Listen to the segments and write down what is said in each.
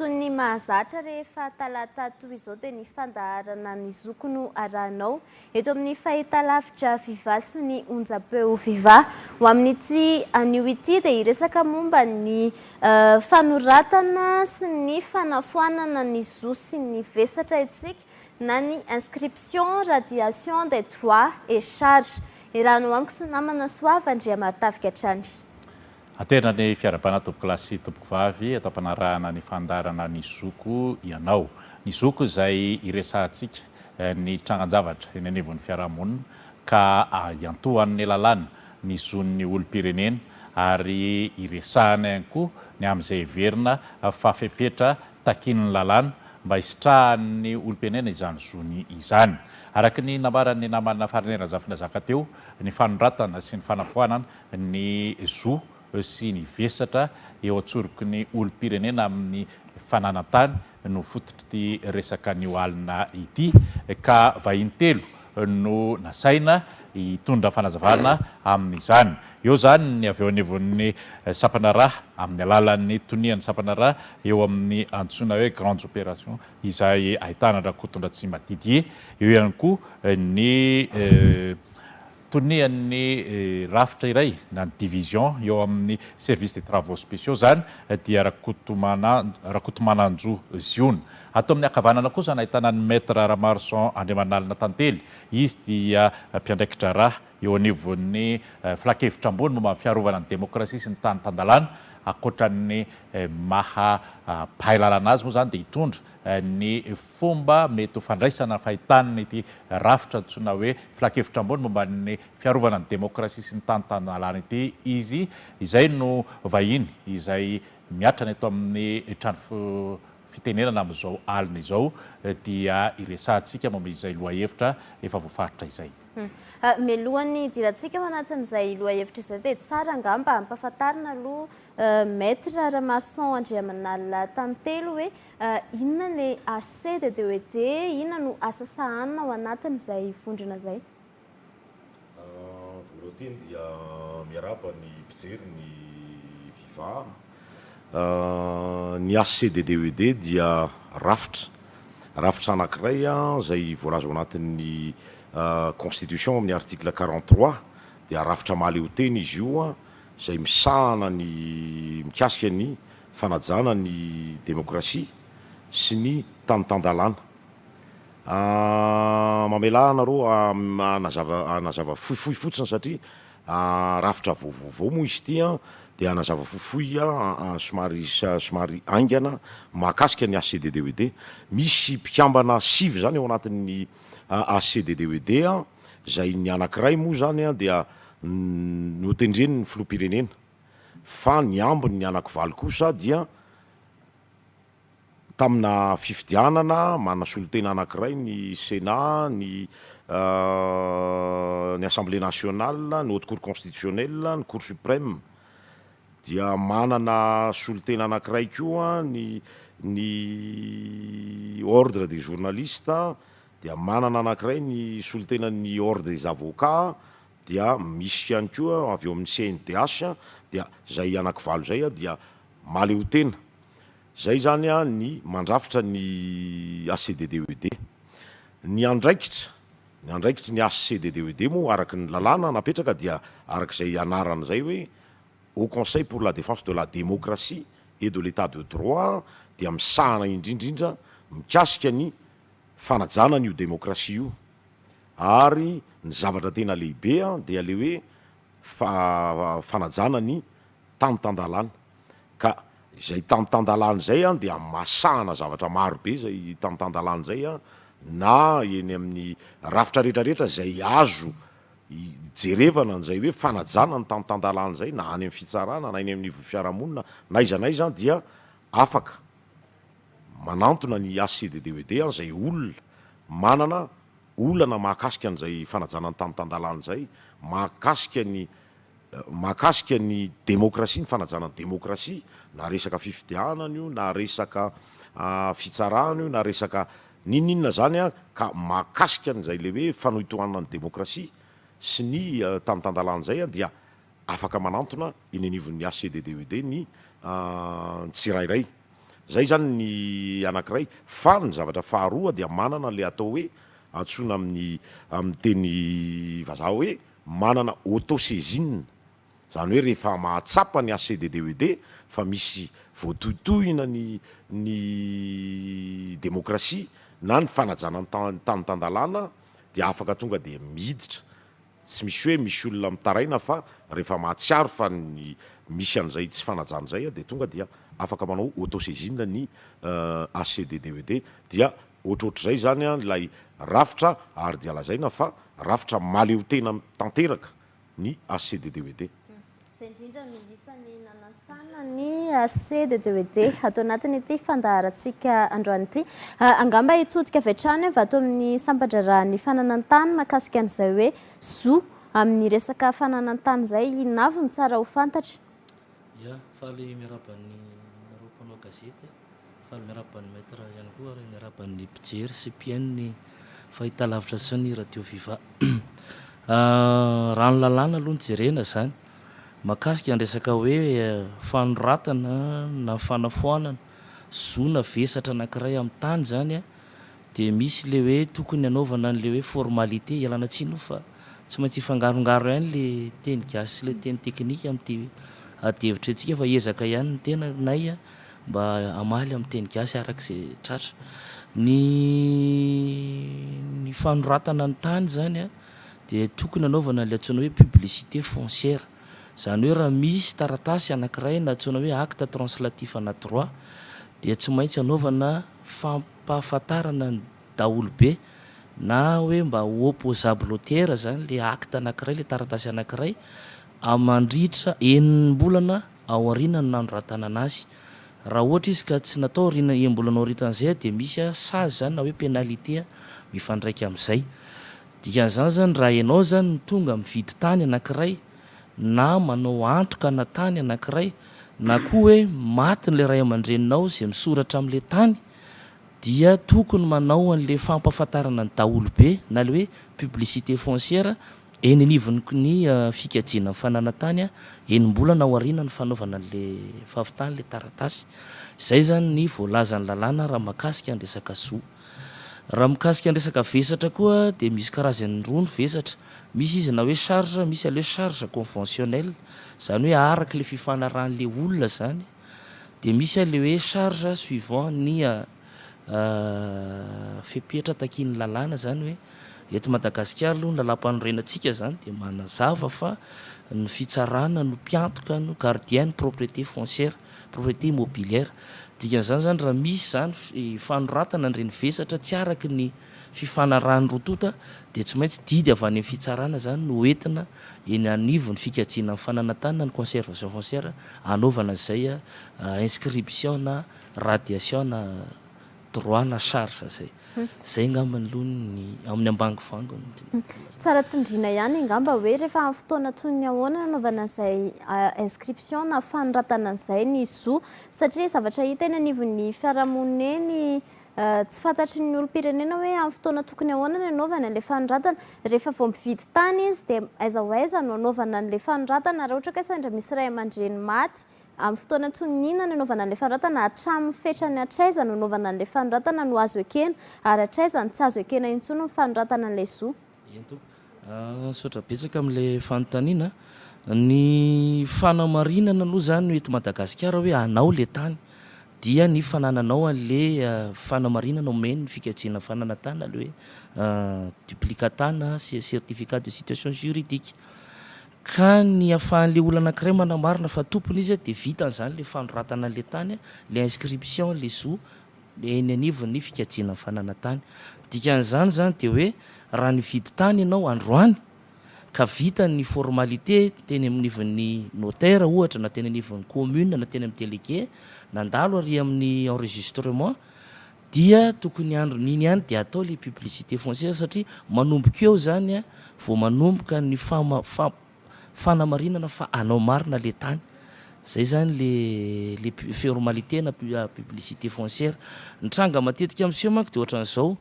Toy ny mahazatra rehefa talata toy izao dia ny fandaharana Ny Zoky no arahinao eto amin'ny fahitalavitra Viva sy ny onjam-peo Viva. Ho amin'ity anio ity dia hiresaka momba ny fanoratana sy ny fanafoanana ny zo sy ny vesatra isika na ny inscription, radiation des droits et charges. Iarahano amiko sy namana Soava Andriamaritavigatrany. Aterina ny fiarahabana tompokolahy sy tompokovavy eto am-panarahana ny fandaharana Ny Zoko ianao. Ny Zoko izay iresahantsika ny trangan-javatra eny anivon'ny fiarahamonina ka iantohan'ny lalàna ny zon'ny olom-pirenena ary iresahana ihany koa ny amin'izay heverina fa fepetra takian'ny lalàna mba hisitrahan'ny olom-pirenena izany zony izany. Araka ny nambaran'ny namana Fariniaina Zafy Nazaka teo, ny fanoratana sy ny fanafoanana ny zo sy ny vesatra eo an-tsoroky ny olom-pirenena amin'ny fananan-tany no fototr'ity resaka anio alina ity ka vahiny telo no nasaina hitondra fanazavana amin'izany. Eo izany ny avy eo anivon'ny sampana ra amin'ny alalan'ny tonian'ny sampana ra eo amin'ny antsoina hoe Grandes Opérations izay ahitana an-dRakotondratsimba Didier, eo ihany koa ny. Tonian'ny rafitra iray na ny division eo amin'ny Service des Travaux Spéciaux izany dia Rakotomana Rakotomananjo Ziona. Ato amin'ny ankavanana kosa no ahitana an'i Maître Ramaroson Andriamanalina Tantely. Izy dia mpiandraiki-draharaha eo anivon'ny Filankevitra ambony momba ny fiarovana ny demokrasia sy ny tany tan-dalàna. Ankoatra ny maha mpahay lalana azy moa izany dia hitondra ny fomba mety ho fandraisana fahitana ity rafitra antsoina hoe Filankevitra Ambony momba ny fiarovana ny demokrasia sy ny tany tanàna ity izy izay no vahiny izay miatrana eto amin'ny trano fitenenana amin'izao alina izao dia hiresahantsika momba izay lohahevitra efa voafaritra izay. Mialohan'ny hidirantsika ao anatin'izay lohahevitra izay dia tsara angamba ampahafantarina aloha Maître Ramarson Andriamanala Tantely hoe inona le Arced de hoe je inona no asa sahanina ao anatin izay vondrona zay? Voalohanteny dia miarahaba ny mpijery ny viva. Ny Arced de hoe de dia rafitra rafitra anankiray izay voalaza ao anatin ny constitution amin ny article quarante trois dia rafitra mahaleotena izy io. izay misahana ny mikasika ny fanajana ny demokrasia sy ny tany tan-dalàna. Mamelà anareo hanazava hanazava fohifohy fotsiny satria rafitra vaovao moa izy ity dia hanazava fohifohy somary somary haingana mahakasika ny HCDDWD. Misy mpikambana sivy izany ao anatin'ny HCDDWD. izay ny anankiray moa izany dia notendren'ny filoham-pirenena fa ny ambiny ny anankivaly kosa dia tamina fifidianana manasolotena anankiray ny sena, ny ny assemblée nationale, ny haute cour constitutionnelle, ny cour supreme dia manana solontena anankiray koa ny ny ordre des journalistes, Dia manana anankiray ny solontenan'ny Ordre des avocats dia misy ihany koa avy eo amin'ny CNDH dia izay anakivalo izay dia mahaleotena. Izay izany ny mandrafitra ny HCDDED. Ny andraikitra, ny andraikitry ny HCDDED moa araka ny lalàna napetraka dia araka izay anarany izay hoe Haut Conseil pour la Défense de la Démocratie et de l'Etat de Droit dia misahana indrindra indrindra mikasika ny fanajana an'io demokrasia io ary ny zavatra tena lehibe dia le hoe fanajana ny tany tan-dalàna ka izay tany tan-dalàna izay dia hamasahana zavatra maro be izay tany tan-dalàna izay na eny amin'ny rafitra rehetra rehetra izay azo hijerevana izay hoe fanajana ny tany tan-dalàna izay na any amin'ny fitsarana na eny anivon'ny fiarahamonina na aiza na aiza dia afaka Manantona ny HCDDOED an'izay olona manana olana mahakasika an'izay fanajana ny tany tan-dalàna izay, mahakasika ny mahakasika ny demokrasia, ny fanajana ny demokrasia, na resaka fifidianana io, na resaka fitsarana io, na resaka n'inon'inona izany an, ka mahakasika an'izay ilay hoe fanohitohanana ny demokrasia sy ny tany tan-dalàna izay an, dia afaka manantona eny anivon'ny HCDDOED ny tsirairay. Izay izany ny anankiray. Fa ny zavatra faharoa dia manana ilay atao hoe, antsoina amin'ny amin'ny teny vazaha hoe manana auto-saisine. Izany hoe rehefa mahatsapa ny HCDDED fa misy voatohitohina ny ny demokrasia na ny fanajana ny tany tan-dalàna dia afaka tonga dia miditra Tsy misy hoe misy olona mitaraina fa rehefa mahatsiaro fa ny misy an'izay tsy fanajana izay dia tonga dia afaka manao auto-saisine ny HCDDED dia ohatrohatr'izay izany ilay rafitra ary dia lazaina fa rafitra mahaleotena tanteraka ny HCDDED. Izay indrindra no isany nanasana ny HC de Deuédé ato anatin'ity fandaharantsika androany ity. Angamba hitodika avy hatrany aho vato amin'ny sampan-draharahan'ny fananan-tany makasika an'izay hoe zo amin'ny resaka fananan-tany izay inavo no tsara ho fantatra. Ya, faly miaraba ny nareo mpanao gazety. Faly miarahaba an'i Maître ihany koa ary miarahaba ny mpijery sy mpihaino ny fahitalavitra sy ny Radio Viva. Raha ny lalàna aloha no jerena izany, mahakasika ny resaka hoe fanoratana na fanafoanana zo na vesatra anankiray amin'ny tany izany, Dia misy le hoe tokony hanaovana an'le hoe formalité, ialana tsiny io fa tsy maintsy hifangarongaro ihany le teny gasy sy le teny teknika amin'ity ady hevitra antsika fa hiezaka ihany ny tenanay mba hamaly amin'ny teny gasy araka izay tratra. Ny ny fanoratana ny tany izany dia tokony hanaovana an'ilay antsoina hoe publicité foncière, izany hoe raha misy taratasy anankiray na antsoina hoe acte translatif ana droit dia tsy maintsy hanaovana famp-. Ampahafantarana ny daholobe na hoe mba ho opposable au tiers izany ilay acte anankiray, ilay taratasy anankiray, mandritra enim-bolana aorianan'ny nanoratanana azy. Raha ohatra izy ka tsy natao aoriana enim-bolana aoritan'izay dia misy sazy izany na hoe pénalité mifandraika amin'izay. Dikan'izany izany raha ianao izany no tonga mividy tany anankiray, na manao antoka ana tany anankiray, na koa hoe maty ilay ray aman-dreninao izay misoratra amin'ilay tany, dia tokony manao an'ilay fampahafantarana ny daholobe na ilay hoe publicité foncière eny anivon'ny ny fikajiana ny fananan-tany enim-bolana ao aorianan'ny fanaovana an'ilay fahavitan'ilay taratasy. Izay izany ny voalazan'ny lalàna raha mahakasika ny resaka zo. Raha mikasika ny resaka vesatra koa dia misy karazany roa ny vesatra, misy izy na hoe charge, misy ilay hoe charge conventionnelle, izany hoe araka ilay fifanarahan'ilay olona izany, dia misy ilay hoe charge suivant ny fepetra takian'ny lalàna, izany hoe eto Madagasikara aloha ny lalàmpanorenantsika izany dia manazava fa ny fitsarana no mpiantoka, no gardien ny propriété foncière. Propriété immobilière. Dikan'izany izany raha misy izany fanoratana an'ireny vesatra tsy araka ny fifanarahan'ny roa tonta dia tsy maintsy didy avy any amin'ny fitsarana izany no hoentina eny anivon'ny fikajiana ny fananantanana ny conservation foncière hanaovana izay inscription na radiation droit na charge zay. Zay ngamba aloha ny amin'ny ambangovango no tena tena. Tsara tsindriana ihany angamba hoe rehefa amin'ny fotoana toy ny ahoana nanaovana an'izay inscription na fanoratana an'izay ny zo satria zavatra hita eny anivon'ny fiarahamonina eny tsy fantatry ny olom-pirenena hoe amin'ny fotoana tokony ahoana ny anaovany an'ilay fanoratana. Rehefa vao mividy tany izy dia aiza ho aiza no anaovana an'ilay fanoratana raha ohatra ka sendra misy ray aman-dreny maty Amin'ny fotoana antoniniana nanaovana an'ilay fanoratana hatramin'ny fetrany hatraiza no hanaovana an'ilay fanoratana no azo ekena ary hatraiza no tsy azo ekena intsony ny fanoratana an'ilay zo. Ento. Misaotra betsaka amin'ilay fanontaniana. Ny fanamarinana aloha izany eto Madagasikara hoe anao ilay tany dia ny fanananao an'ilay fanamarinana omen'ny fikajiana fananantany na ilay hoe duplicatana, certificat de situation juridique. Ka ny ahafahan'ilay olona anankiray manamarina fa tompony izy dia vitany izany ilay fanoratana an'ilay tany, ilay inscription, ilay zo eny anivon'ny fikajiana ny fananantany. Ny dikan'izany izany dia hoe raha nividy tany ianao androany ka vita ny formalité teny anivon'ny notaire ohatra na teny anivon'ny commune na teny amin'ny délégué, nandalo ary amin'ny enregistrement, Dia tokony andron'iny ihany dia atao ilay publicité foncière satria manomboka eo izany vao manomboka ny fanamarinana fa anao marina ilay tany. Izay izany ilay formalité na publicité foncière. Ny tranga matetika miseho manko dia ohatran'izao,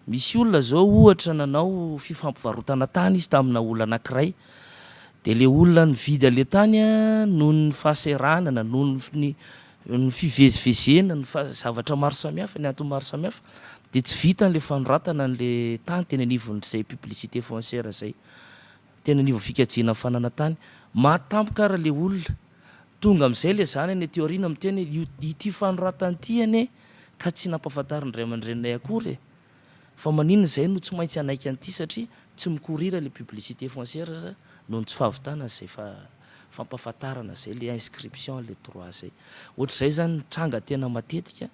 misy olona izao ohatra nanao fifampivarotana tany izy tamina olona anankiray, dia ilay olona nividy an'ilay tany noho ny fahasahiranana, noho ny ny fivezivezena, ny zavatra maro samihafa, ny antony maro samihafa dia tsy vitany ilay fanoratana an'ilay tany teny anivon'izay publicité foncière izay, teny anivon'ny fikajiana ny fananana tany. Maty tampoka ary ilay olona. Tonga amin'izay ilay zany anie aty aoriana miteny hoe io, ity fanoratana ity anie ka tsy nampahafantarin'ny ray aman-dreninay akory e! Fa maninona izay no tsy maintsy hanaiky an'ity satria tsy mikorira ilay publicité foncière sa noho ny tsy fahavitana izay fampahafantarana izay ilay inscription ilay droit izay. Ohatr'izay izany ny tranga tena matetika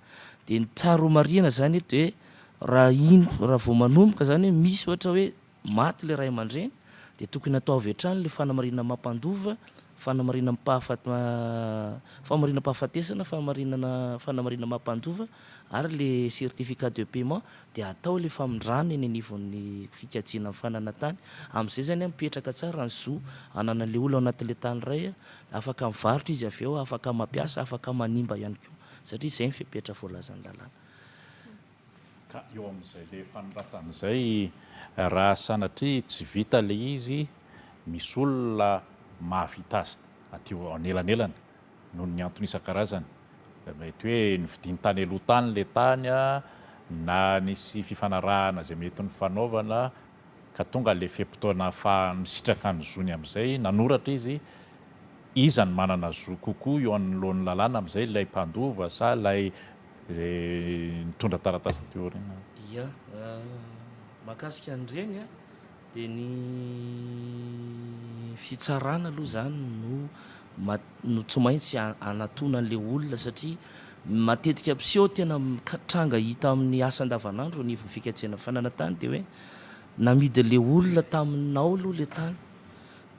dia ny tsara homarihina izany eto dia raha iny raha vao manomboka izany hoe misy ohatra hoe maty ilay ray aman-dreny dia tokony ataovy hatrany ilay fanamarihana mampandova, fanamarihana-pahafatesana, fahamarinana, fanamarihana mampandova ary ilay certificat de paiement dia atao ilay famindrana eny anivon'ny fikajiana ny fananantany. Amin'izay izany mipetraka tsara ny zo ananan'ilay olona ao anatin'ilay tany iray, afaka mivarotra izy avy eo, afaka mampiasa, afaka manimba ihany koa satria izay ny fepetra voalazan'ny lalàna. Ka eo amin'izay le fanoratana izay raha sanatria tsy vita le izy misy olona mahavita azy aty anelanelana noho ny antony isan-karazany. Mety hoe novidiany tany aloha tany le tany na nisy fifanarahana izay mety nifanaovana. ka tonga ilay fe-potoana ahafahany misitraka ny zony amin'izay nanoratra izy, iza no manana zo kokoa eo anoloan'ny lalàna amin'izay, ilay mpandova sa ilay nitondra taratasy taty aoriana? Ia, mahakasika an'ireny dia ny fitsarana aloha izany no no tsy maintsy hanatona an'ilay olona satria matetika mpiseho tena tranga hita amin'ny asa andavanandro anivon'ny fikatsehana fananantany dia hoe namidy an'ilay olona taminao aloha ilay tany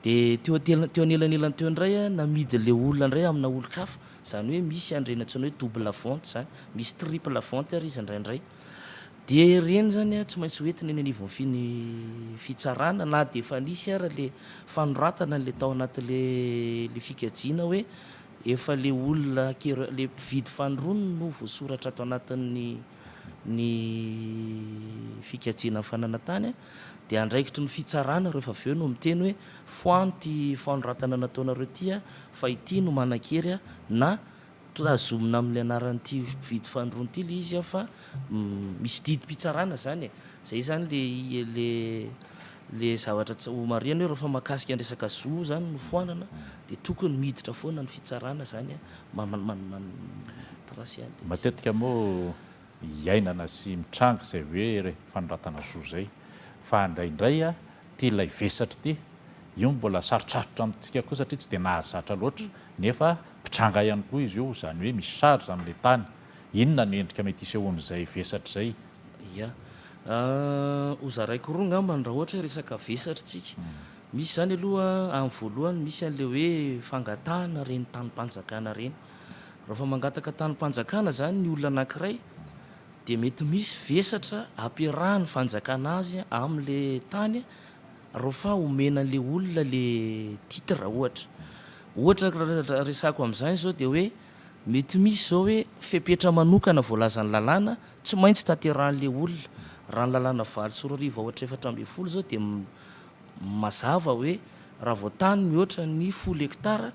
dia teo teo anelanelan'ny teo indray a namidy an'ilay olona indray amina olon-kafa izany hoe misy andrena antsoina hoe double vente izany misy triple vente ary izy indraindray Dia ireny izany tsy maintsy ho entina eny anivon'ny fitsarana na dia efa nisy ara ilay fanoratana ilay tao anatin'ilay fikajiana hoe efa ilay olona acquéreur, ilay mpividy fanorony no voasoratra ato anatin'ny ny fikajiana ny fananantany dia andraikitry ny fitsarana rehefa avy eo no miteny hoe foano ity fanoratana nataonareo ity fa ity no manan-kery na Tazomina amin'ilay anaran'ity mpividy fanondro ity ilay izy fa misy didim-pitsarana izany e. Izay izany ilay zavatra tsy homarihina hoe rehefa mahakasika ny resaka zo izany no foanana dia tokony miditra foana ny fitsarana izany an. Matetika moa iainana sy mitranga izay hoe fanoratana zo izay fa indraindray ity ilay vesatra ity io mbola sarotsarotra amintsika koa satria tsy dia nahazatra loatra nefa Mpitranga ihany koa izy io, izany hoe misy sary izany ilay tany. Inona ny endrika mety hisehoan'izay vesatra izay? Ia. Ho zaraiko roa angamba raha ohatra hoe resaka vesatra isika. Misy izany aloha, amin'ny voalohany, misy an'ilay hoe fangatahana ireny tanim-panjakana ireny. Raha vao mangataka tanim-panjakana izany ny olona anankiray, dia mety misy vesatra ampiarahan'ny fanjakana azy amin'ilay tany, raha ohatra fa omena an'ilay olona ilay titre, ohatra. Ohatra resako amin'izany izao dia hoe mety misy izao hoe fepetra manokana voalazan'ny lalàna tsy maintsy tanterahin'ilay olona. Raha ny lalàna valo sy roa arivo aotra efatra ambin'ny folo izao dia mazava hoe raha vao tany mihoatra ny folo hektara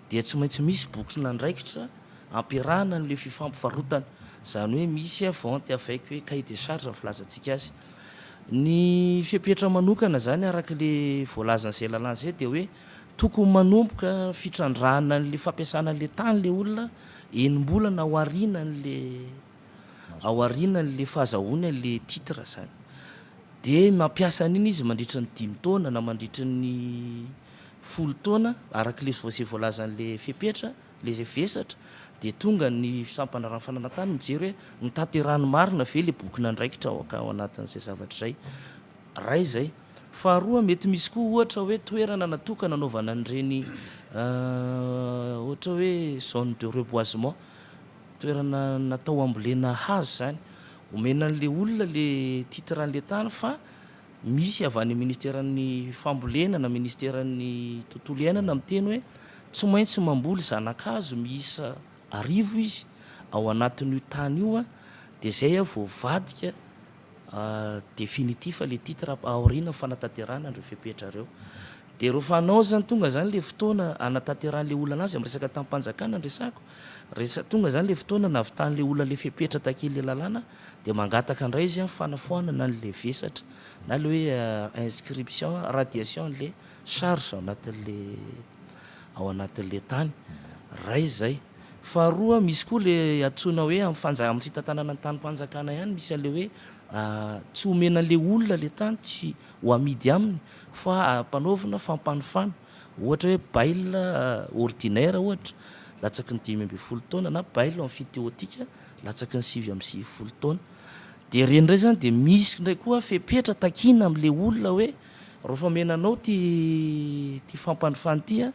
dia tsy maintsy misy bokin'andraikitra ampiarahana an'ilay fifampivarotana. Izany hoe misy vente avec hoe cahier de charge filazantsika azy. Ny fepetra manokana izany araka ilay voalazan'izay lalàna izay dia hoe. Tokony manomboka fitrandrahana an'ilay fampiasana an'ilay tany ilay olona enim-bolana ao aorianan'ilay ao aorianan'ilay fahazahoany an'ilay titre izany. Dia mampiasa an'iny izy mandritra ny dimy taona na mandritra ny folo taona, araka ilay izay voalazan'ilay fepetra, ilay izay vesatra, dia tonga ny sampandraharahan'ny fananantany mijery hoe notanterahiny marina ve ilay bokin'andraikitra ao anatin'izay zavatra izay. Iray izay. Faharoa, mety misy koa ohatra hoe toerana natokana hanaovana an'ireny ohatra hoe zone de reboisement, toerana natao hambolena hazo izany. Omena an'ilay olona ilay titre an'ilay tany fa misy avy any minisiteran'ny fambolena na minisiteran'ny tontolo iainana miteny hoe tsy maintsy mamboly zana-kazo miisa arivo izy ao anatin'io tany io dia izay vao avadika Definitif le titre aoriana fanatanterahana an'ireo fepetra ireo. Dia ireo fanao zany tonga zany le fotoana anatanterahana le olana azy amin'ny resaka tamim-panjakana ny resako. Resa- tonga zany le fotoana navitany le olona le fepetra takian'ny le lalàna dia mangataka indray izy an fanafoanana ny le vesatra na le hoe inscription radiation ny le charge ao anatin'ny le ao anatin'ny le tany. Ray zay. Faharoa misy koa le antsoina hoe am fanja am fitantanana ny tanim-panjakana ihany misy anle hoe tsy omena anle olona le tany tsy ho amidy aminy fa ampanaovina fampanofana ohatra hoe bail ordinaire ohatra latsaky ny dimy ambin'ny folo taona na bail emphytéotique latsaky ny sivy amby sivifolo taona de reny ndray zany de misy ndray koa fepetra takiana amle olona hoe raofamena anao ty ty fampanofana ty a.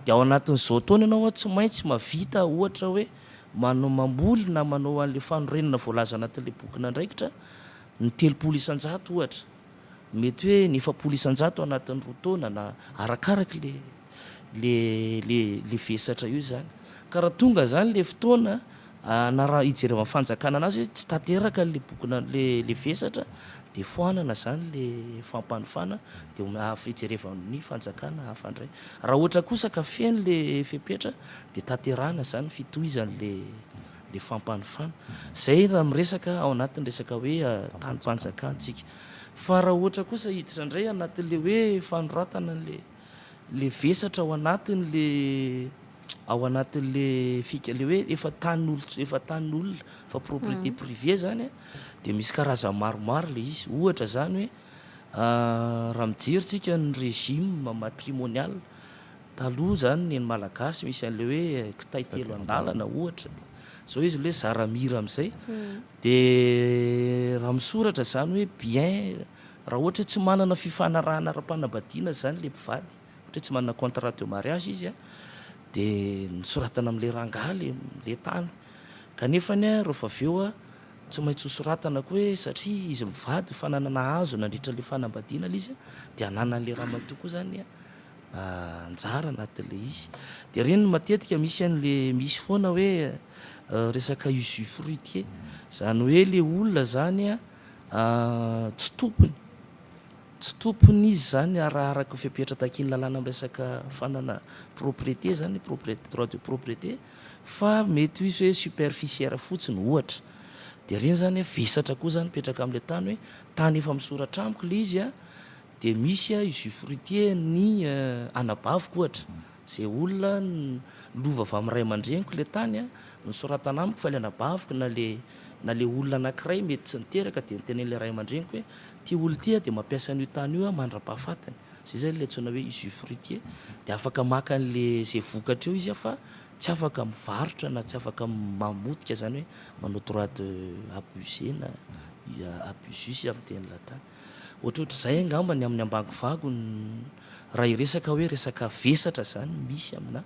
Dia ao anatin'izao taona ianao an, tsy maintsy mahavita ohatra hoe manao, mamboly na manao an'ilay fanorenana voalaza anatin'ilay bokin'andraikitra ny telopolo isan-jato ohatra. Mety hoe ny efapolo isan-jato anatin'ny roa taona na arakaraka ilay ilay ilay ilay vesatra eo izany. Ka raha tonga izany ilay fotoana Na raha hijereva ny fanjakana anazy hoe tsy tanteraka le bokina le le vesatra de foanana zany le fampanofana de omea hafa hijerevana ny fanjakana hafa ndray raha ohatra kosa ka feno le fepetra de tanterahana zany ny fitohizany le le fampanofana zay raha miresaka ao anatin'ny resaka hoe tanim-panjakantsika fa raha ohatra kosa hiditra ndray anatin'le hoe fanoratana an'le le vesatra ao anatiny le ao anatiny le fika le hoe efa tany olo efa tany olona fa propriété mhm. privée zany a de misy karazany maromaro le izy ohatra zany hoe ah, raha mijerintsika ny régime matrimonial taloha zany ny ny malagasy misy an'le hoe eh, kitay telo andalana ohatra de zao izy le zaramira am'izay mhm. de raha misoratra zany hoe bien Raha ohatra hoe tsy manana fifanarahana ara-panambadiana izany ilay mpivady, ohatra hoe tsy manana contrat de mariage izy an, dia nosoratana amin'ilay rangahy ilay ilay tany. Kanefany an, rehefa avy eo an, tsy maintsy hosoratana koa hoe satria izy mivady fa nanana hazo nandritra ilay fanambadiana ilay izy an, dia ananan'ilay ramatoa koa izany an anjara anatin'ilay izy. Dia ireny no matetika misy an'ilay misy foana hoe resaka usufruitier, izany hoe ilay olona izany an, Tsy tompony, tsy tompony izy izany arakaraka fepetra takian'ny lalàna miresaka fanana propriété izany, propriété, droit de propriété, fa mety ho izy hoe superficiaire fotsiny ohatra, dia ireny izany hoe vesatra koa izany mipetraka amin'ilay tany hoe tany efa misoratra amiko ilay izy dia misy usufruitier ny anabaviko ohatra. Ze olona lova avy amin'ny ray aman-dreniko le tany a, nosoratana amiko fa le anabaviko na le na le olona anankiray mety tsy niteraka de notenenin'le ray aman-dreniko hoe ty olona ty a de mampiasa an'io tany io aho mandra-pahafatiny, zay zany le antsoina hoe usufruitier, de afaka maka an'le ze vokatra eo izy a fa tsy afaka mivarotra na tsy afaka mamotika zany hoe manao droit de abuser na abusus amin'ny teny latin. Ohatrohatr'izay angamba ny amin'ny ambangovago raha hiresaka hoe resaka vesatra izany misy aminà.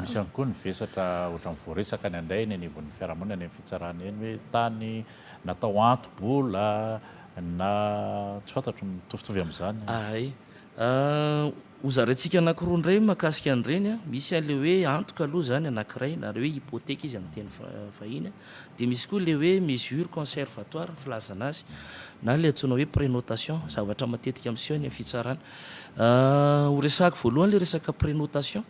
Misy ihany koa ny vesatra ohatran'ny voaresaka any indray eny anivon'ny fiarahamonina eny amin'ny fitsarana eny hoe tany natao anto-bola na tsy fantatro mitovitovy amin'izany. Ho zaraintsika anankiroa indray mahakasika an'ireny a. Misy an'ilay hoe antoka aloha izany anankiray, na ilay hoe hypothèque izy amin'ny teny vahiny a. Dia misy koa ilay hoe mesure conservatoire ny filazana azy, na ilay antsoina hoe prénotation, zavatra matetika miseho any amin'ny fitsarana. Ho resahako voalohany ilay resaka prénotation,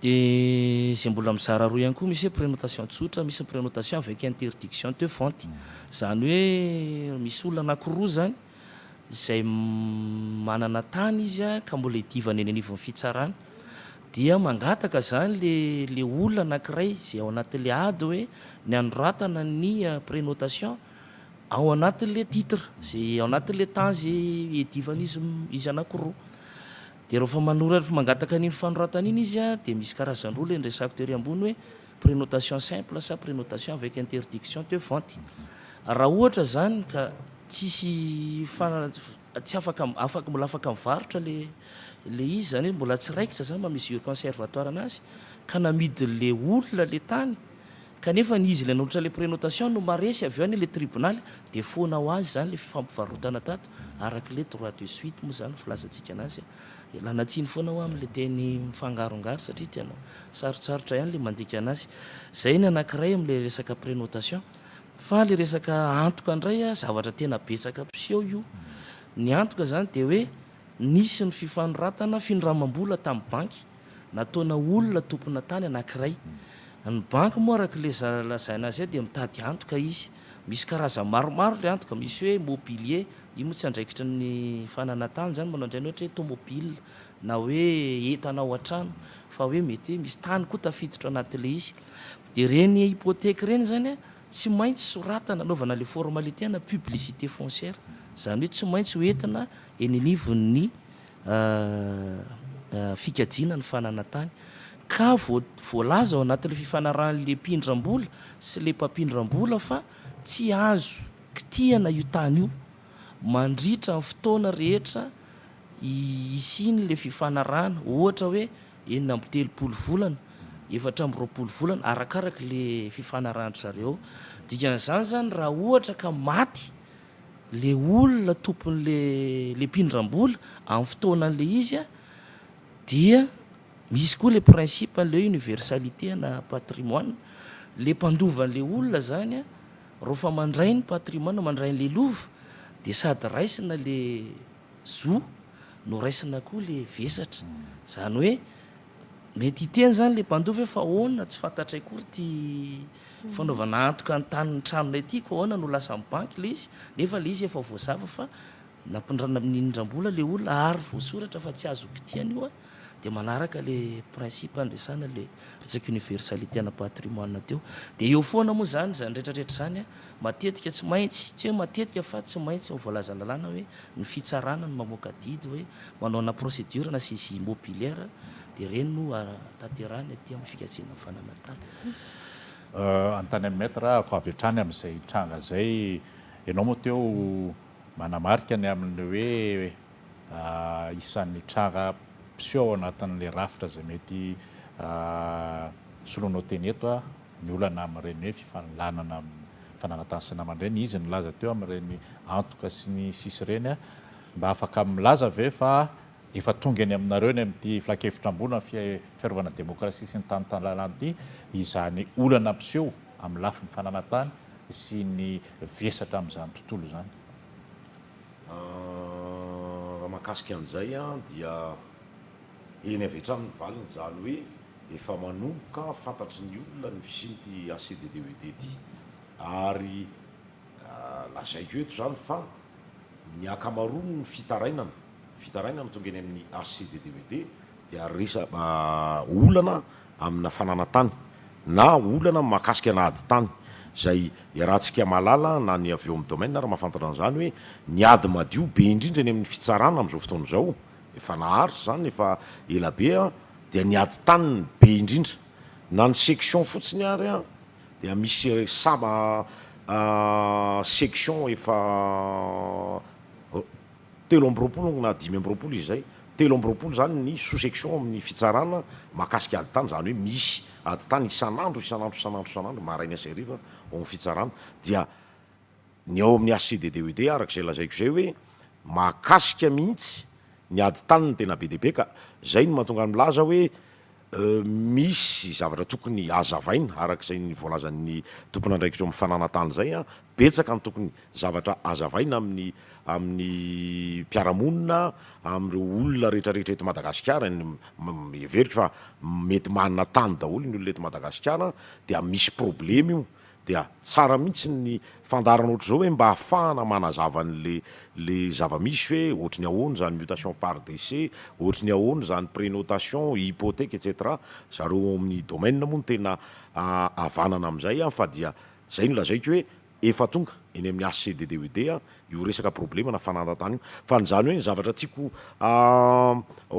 dia izay mbola mizara roa ihany koa, misy hoe prénotation tsotra, misy ny prénotation avec interdiction de vente. Izany hoe misy olona anankiroa izany izay manana tany izy ka mbola hiadivana eny anivon'ny fitsarana dia mangataka izany ilay olona anankiray izay ao anatin'ilay ady hoe ny anoratana ny prenotation ao anatin'ilay titre izay ao anatin'ilay tany izay hiadivan'izy izy anankiroa. Dia rehefa manoratra, mangataka an'iny fanoratana iny izy dia misy karazany roa ilay noresahako tery ambony hoe. Prenotation simple sa prenotation avec interdiction teo vente? Raha ohatra izany ka tsisy tsy afaka afaka mbola afaka mivarotra le le izy zany hoe mbola tsy raikitra zany mba mesure conservatoire anazy ka namidy le olona le tany kanefa ny izy le nanolotra le prenotation no maresy avy eo anie le tribonaly de foana ho azy zany le fifampivarotana tato araka le droit de suite moa zany filazantsika anazy ialana tsiny foana hoa amle teny mifangarongaro satria tena Sarotsarotra ihany le mandika anazy. Zay ny anakiray amle resaka prenotation. Fa le resaka antoka ndray a, zavatra tena betsaka mpiseho io. Ny antoka zany de hoe nisy ny fifanoratana, findramam-bola tam banky, nataona olona tompona tany anakiray. Ny banky moa arakle lazaina azy eo de mitady antoka izy. Misy karazany maromaro le antoka, misy hoe mobilier, io moa tsy andraikitry ny fanana tany zany manao andrainy ohatra hoe tomobile, na hoe entana ao an-trano fa hoe mety hoe misy tany koa tafiditra anatin'ilay izy dia ireny hypothèque ireny izany tsy maintsy soratana anaovana ilay formalité ana publicité foncière izany hoe tsy maintsy ho entina eny anivon'ny fikajiana ny fanana tany ka voalaza ao anatin'ilay fifanarahan'ilay mpindram-bola sy ilay mpampindram-bola fa tsy azo kitihana io tany io. mandritra ny fotoana rehetra hisian'ilay fifanarahana, ohatra hoe enina amby telopolo volana, efatra amby roapolo volana, arakaraka ilay fifanarahan-dry zareo. Dikan'izany izany, raha ohatra ka maty ilay olona tompon'ilay ilay mpindram-bola amin'ny fotoanan'ilay izy dia misy koa ilay principe an'ilay hoe universalité ana patrimoine, ilay mpandova an'ilay olona izany. Rofa mandray ny patrimoine mandray an'le lova de sady raisina le zo no raisina koa le vesatra zany hoe mety hiteny zany le mpandova hoe fa ahoana tsy fantatray koa ry ty fanaovana antoka ny tanin'ny tranonay ty ko ahoana no lasan'ny banky le izy nefa le izy efa voazava fa Nampindrana amin'ny inindrambola ilay olona ary voasoratra fa tsy azo kitihan io an! dia manaraka ilay principe andresana ilay resaka universalité ana patrimoine teo. Dia eo foana moa izany, izany rehetra rehetra izany an! matetika tsy maintsy, tsy hoe matetika fa tsy maintsy ny voalazan'ny lalàna hoe ny fitsarana no mamoaka didy hoe manao ana procédure ana saisie immobilière dia ireny no hatanterahana ety amin'ny fikajiana fananantany. Anontany an'i Maître aho avy hatrany amin'izay tranga izay, ianao moa teo Manamarika ny amin'ny hoe isan'ny tranga mpiseho ao anatin'ilay rafitra izay mety soloanao teny eto ny olana amin'ireny hoe fifanolanana mifananantany sy namana ireny. Izy nilaza teo amin'ireny antoka sy ny sisa ireny. Mba afaka milaza ve fa efa tonga eny aminareo eny amin'ity filankevitra ambony amin'ny fiarovana ny demokrasia sy ny tany tanàna ity izany olana mpiseho amin'ny lafiny fananantany sy ny vesatra amin'izany tontolo izany. Raha mahakasika an'izay dia eny avy hatrany ny valiny, izany hoe efa manomboka fantatry ny olona ny fisian'ity ACDDED ity ary lazaiko eto izany fa ny ankamaroan'ny fitarainana, fitarainana tonga eny amin'ny ACDDED dia resa olana amina fananan-tany na olana mahakasika ana ady tany izay iarahantsika mahalala na ny avy eo amin'ny domaine ary mahafantatra an'izany hoe ny ady madio be indrindra eny amin'ny fitsarana amin'izao fotoana izao, efa naharitra izany efa ela be an, dia ny ady tany no be indrindra. Na ny section fotsiny ary an, dia misy saba section efa telo amby roapolo na dimy amby roapolo izy izay, telo amby roapolo izany ny sous-section ao amin'ny fitsarana mahakasika ady tany, izany hoe misy ady tany isan'andro, isan'andro, isan'andro, isan'andro, maraina sy hariva ao amin'ny fitsarana, dia ny ao amin'ny HCDDED araka izay lazaiko izay hoe mahakasika mihitsy ny ady tany no tena be dia be ka, izay no mahatonga ahy milaza hoe, Misy zavatra tokony hazavaina araka izay ny voalazan'ny tompon'andraikitra eo amin'ny fananantany izay an. Betsaka ny tokony zavatra hazavaina amin'ny amin'ny mpiara-monina, amin'ireo olona rehetrarehetra eto Madagasikara. Heveriko fa mety manana tany daholo ny olona eto Madagasikara dia misy problema io. Dia tsara mihitsy ny fandaharana ohatr'izao hoe mba hahafahana manazava an'le le zava-misy hoe ohatry ny ahoana izany mutation par décès, ohatry ny ahoana izany prénotation, hypothèque etc. Zareo ao amin'ny domaine moa no tena havanana amin'izay an! Fa dia izay no lazaiko hoe efa tonga eny amin'ny HCDDUD io resaka problème na fananantany io. Fa ny izany hoe ny zavatra tiako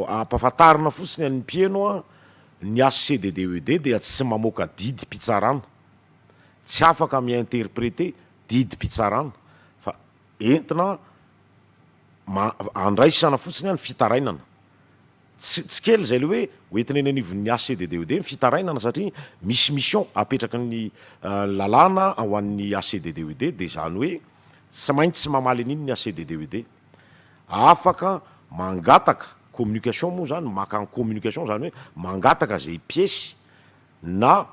hampafantarina fotsiny an'ny mpieno an! ny HCDDUD dia tsy mamoaka didim-pitsarana. tsy afaka mi-interpreter didim-pitsarana fa entina ma- andraisana fotsiny ny fitarainana. Tsy tsy kely izay le hoe hoentina eny anivon'ny HCDDOD ny fitarainana satria misy mission apetraky ny lalàna ho an'ny HCDDOD dia izany hoe tsy maintsy mamaly an'iny ny HCDDOD. Afaka mangataka communication moa izany, maka communication izany hoe mangataka izay piesy na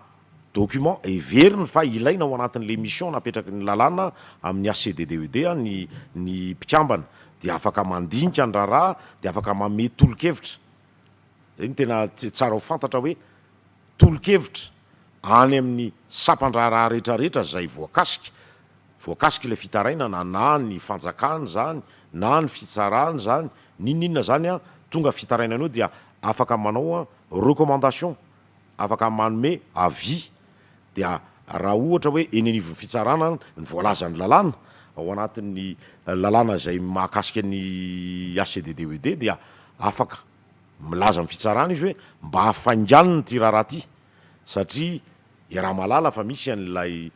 document heveriny fa ilaina ao anatin'ilay mission napetraky ny lalàna amin'ny HCDDED ny ny mpikambana dia afaka mandinika ny raharaha dia afaka manome tolo-kevitra, izay no tena tsara ho fantatra hoe tolo-kevitra any amin'ny sampan-draharaha rehetrarehetra izay voakasika, voakasika ilay fitarainana na ny fanjakana izany na ny fitsarana izany n'inon'inona izany an, tonga fitarainana eo dia afaka manao recommandation. afaka manome avis dia raha ohatra hoe eny anivon'ny fitsarana ny voalazan'ny lalàna ao anatin'ny lalàna izay mahakasika ny HCDD OED dia afaka milaza amin'ny fitsarana izy hoe mba hafainganina ity raharaha ity satria iaraha mahalala fa misy an'ilay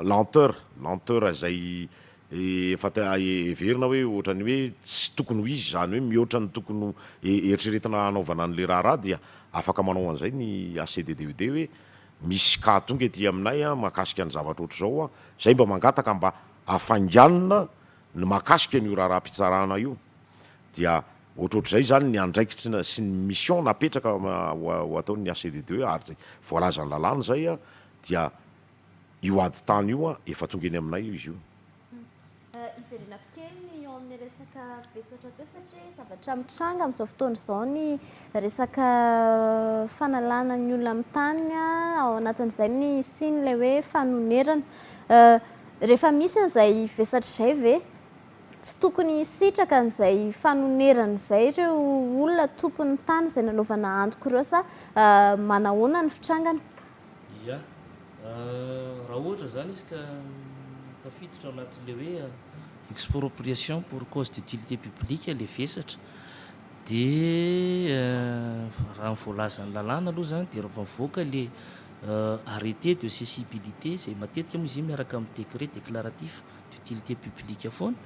lenteur, lenteur izay efa heverina hoe ohatran'ny hoe tsy tokony ho izy izany hoe mihoatra ny tokony eritreretina hanaovana an'ilay raharaha dia afaka manao an'izay ny HCDDUD hoe misy cas tonga ety aminay mahakasika ny zavatra ohatr'izao, izay mba mangataka mba hafainganina ny mahakasika an'io raharaham-pitsarana io dia ohatrohatr'izay izany ny andraikitry sy ny mission napetraka ho ataon'ny HCDDUD ary izay voalazan'ny lalàna izay dia Io ady tany io an, efa tonga eny aminay io izy io. Hiverenako kely ny eo amin'ny resaka vesatra teo satria zavatra mitranga amin'izao fotoana izao ny resaka fanalana ny olona amin'ny taniny ao anatin'izay ny siny ilay hoe fanonerana. Rehefa misy an'izay vesatra izay ve tsy tokony hisitraka an'izay fanonerana izay ireo olona tompon'ny tany izay nanaovana antoko ireo sa manahoana ny fitrangany? Ia. Raha ohatra izany izy ka tafiditra ao anatin'ilay hoe expropriation pour cause d'utilité publique ilay vesatra dia raha ny voalazan'ny lalàna aloha izany dia rehefa mivoaka ilay arrêté de cessibilité izay matetika moa izy io miaraka amin'ny décret déclaratif d'utilité publique foana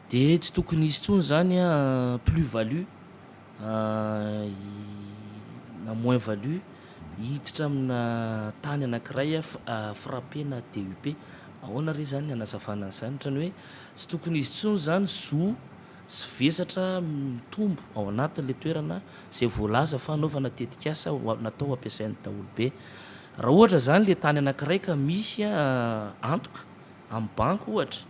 dia tsy tokony hisy intsony izany plus value na moins value hiditra amina tany anankiray frappe na DUP ahoana re zany hanazavana an'izany ohatrany hoe tsy tokony hisy intsony zany zo sy vesatra mitombo ao anatin'le toerana zay voalaza fa hanaovana tetikasa natao hampiasain'ny daholo be raha ohatra zany le tany anankiray ka misy antoka amin'ny banky ohatra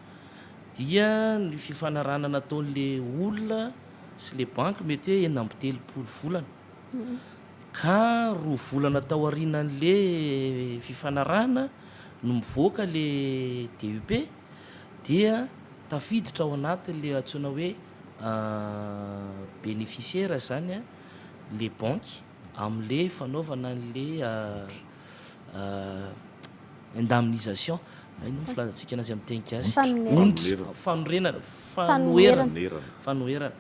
dia ny fifanarahana nataon'le olona sy le banky mety hoe enina amby telopolo volana ka roa volana tao aorianan'le fifanarahana no mivoaka le DUP dia tafiditra ao anatin'le antsoina hoe bénéficiaire izany le banky amin'le fanaovana an'le indemnisation, inona moa filazantsika anazy amin'ny teny gasy? ondry, fanorenana, fanoherana, fanoherana,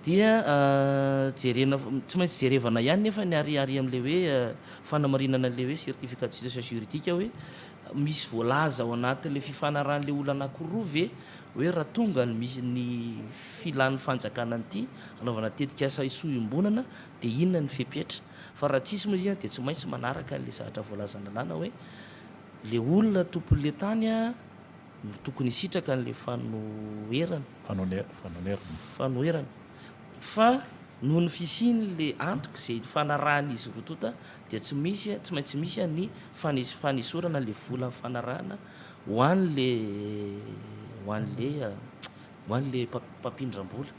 dia jerena, tsy maintsy jerevana ihany nefa ny ary ary amin'ilay hoe fanamarinana an'ilay hoe certificat de situation juridique hoe misy voalaza ao anatin'ilay fifanarahan'ilay olona anankiroa ve hoe raha tonga ny misy ny filan'ny fanjakana an'ity hanaovana tetikasa hisoa iombonana dia inona ny fepetra Fa raha tsisy moa izy dia tsy maintsy manaraka an'ilay zavatra voalazan'ny lalàna hoe ilay olona tompon'ilay tany no tokony hisitraka an'ilay fanoherana. Fanoherana. Fanoherana. Fa noho ny fisian'ilay antoko izay ifanarahan'izy roa tonta dia tsy misy, tsy maintsy misy ny fanesorana an'ilay vola nifanarahana ho an'ilay, ho an'ilay Ho any le mpampindrambola.